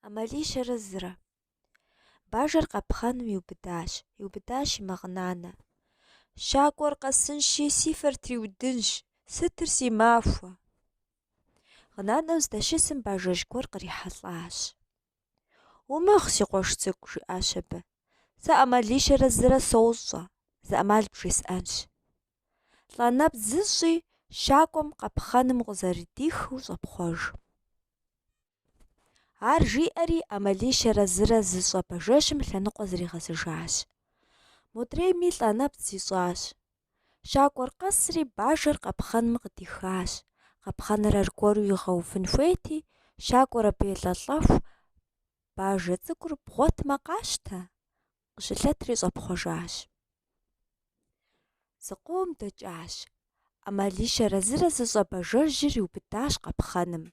ӏэмалищэрэ зырэ. Бажэр къэпхъэным иубыдащ, иубыдащи мэгъынанэ. Щакӏуэр къэсынщи, си фэр триудынщ, сытыр си махуэ. Гъынанэу здэщысым бажэжь гуэр кърихьэлӏащ. Умыгъ, си къуэш цӏыкӏу, жиӏащ абы. Сэ ӏэмалищэрэ зырэ сощӏэ, зы ӏэмал бжесӏэнщ. Лӏэ нэпцӏ зыщӏи щакӏуэм къэпхъэным укъызэрыдихыу щӏэпхъуэж. Ар жиӏэри ӏэмалищэрэ зырэ зыщӏэ бажэжьым лъэныкъуэ зригъэзыжащ. Модрейми лӏэ нэпцӏ зищӏащ. Щакӏуэр къэсри бажэр къэпхъэным къыдихащ, къэпхъэныр аргуэру игъэувын хуейти, щакӏуэр абы елӏэлӏэху, Бажэ цӏыкӏур бгъуэтмэ къащтэ, Къыщылъэтри щӏэпхъуэжащ. Зыкъом дэкӏащ. ӏэмалищэрэ зырэ зыщӏэ бажэжьыр иубыдащ къэпхъэным.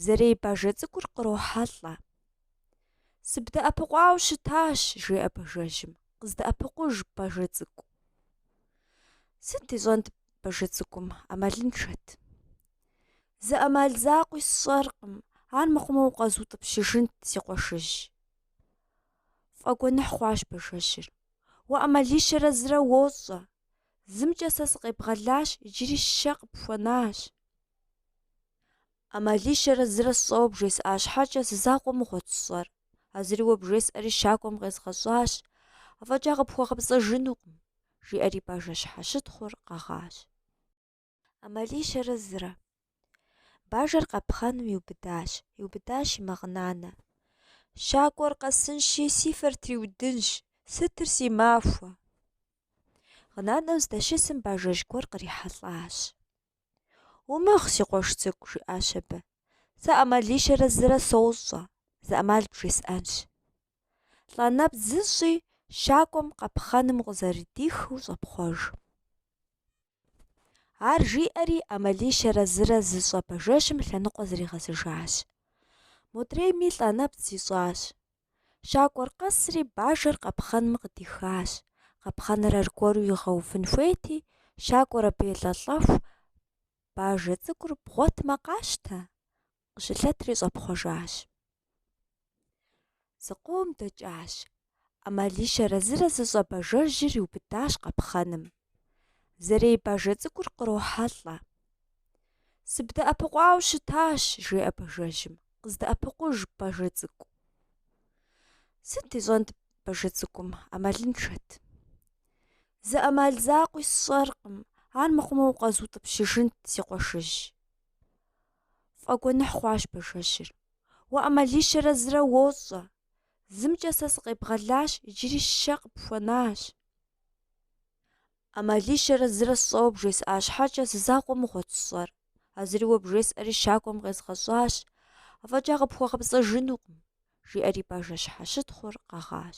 Зэрей бажэ цӏыкӏур кърохьэлӏэ. Сыбдэӏэпыкъуауэ щытащ, жеӏэ бажэжьым. Къыздэӏэпыкъуж, бажэ цӏыкӏу. Сыт ищӏэнт бажэ цӏыкӏум, ӏэмалыншэт. Зы ӏэмал закъуи сщӏэркъым, ар мыхъумэ укъэзутӏыпщыжынт, си къуэшыжь. Фӏэгуэныхь хъуащ бажэжьыр. Уэ ӏэмалищэрэ зырэ уощӏэ. Зымкӏэ сэ сыкъебгъэлащ, иджыри щэ къыпхуэнащ. ӏэмалищэрэ зырэ сщӏэуэ бжесӏа щхьэкӏэ зы закъуэ мыгъуэт сщӏэр. А зыри уэ бжесӏэри щакӏуэм къезгъэщӏащ, афӏэкӏа къыпхуэгъэпцӏэжынукъым, жиӏэри бажэ щхьэщытхъур къэгъащ. ӏэмалищэрэ зырэ. Бажэр къэпхъэным иубыдащ, иубыдащи мэгъынанэ. Щакӏуэр къэсынщи, си фэр триудынщ, сытыр си махуэ. Гъынанэу здэщысым бажэжь гуэр кърихьэлӏащ. Умыгъ, си къуэш цӏыкӏу, жиӏащ абы. Сэ ӏэмалищэрэ зырэ сощӏэ, зы ӏэмал бжесӏэнщ. Лӏэ нэпцӏ зыщӏи, щакӏуэм къэпхъэным укъызэрыдихыу щӏэпхъуэж. Ар жиӏэри, ӏэмалищэрэ зырэ зыщӏэ бажэжьым лъэныкъуэ зригъэзыжащ. Модрейми лӏэ нэпцӏ зищӏащ. Щакӏуэр къэсри, бажэр къапхъэным къыдихащ. Къапхъэныр аргуэру игъэувын хуейти, щакӏуэр абы елӏэлӏэху, Бажэ цӏыкӏур бгъуэтмэ, къащтэ! Къыщылъэтри щӏэпхъуэжащ. Зыкъом дэкӏащ. ӏэмалищэрэ зырэ зыщӏэ бажэжьыр иубыдащ къэпхъэным. Зэрей бажэ цӏыкӏур кърохьэлӏэ. Сыбдэӏэпыкъуауэ щытащ, жеӏэ бажэжьым. Къыздэӏэпыкъуж, бажэ цӏыкӏу. Сыт ищӏэнт бажэ цӏыкӏум, ӏэмалыншэт. Зы ӏэмал закъуи сщӏэркъым, ар мыхъумэ укъэзутӏыпщыжынт, си къуэшыжь. Фӏэгуэныхь хъуащ бажэжьыр. Уэ ӏэмалищэрэ зырэ уощӏэ. Зымкӏэ сэ сыкъебгъэлащ, иджыри щэ къыпхуэнащ. ӏэмалищэрэ зырэ сщӏэуэ бжесӏа щхьэкӏэ зы закъуэ мыгъуэт сщӏэр. А зыри уэ бжесӏэри щакӏуэм къезгъэщӏащ, афӏэкӏа къыпхуэгъэпцӏэжынукъым, жиӏэри бажэ щхьэщытхъур къэгъащ.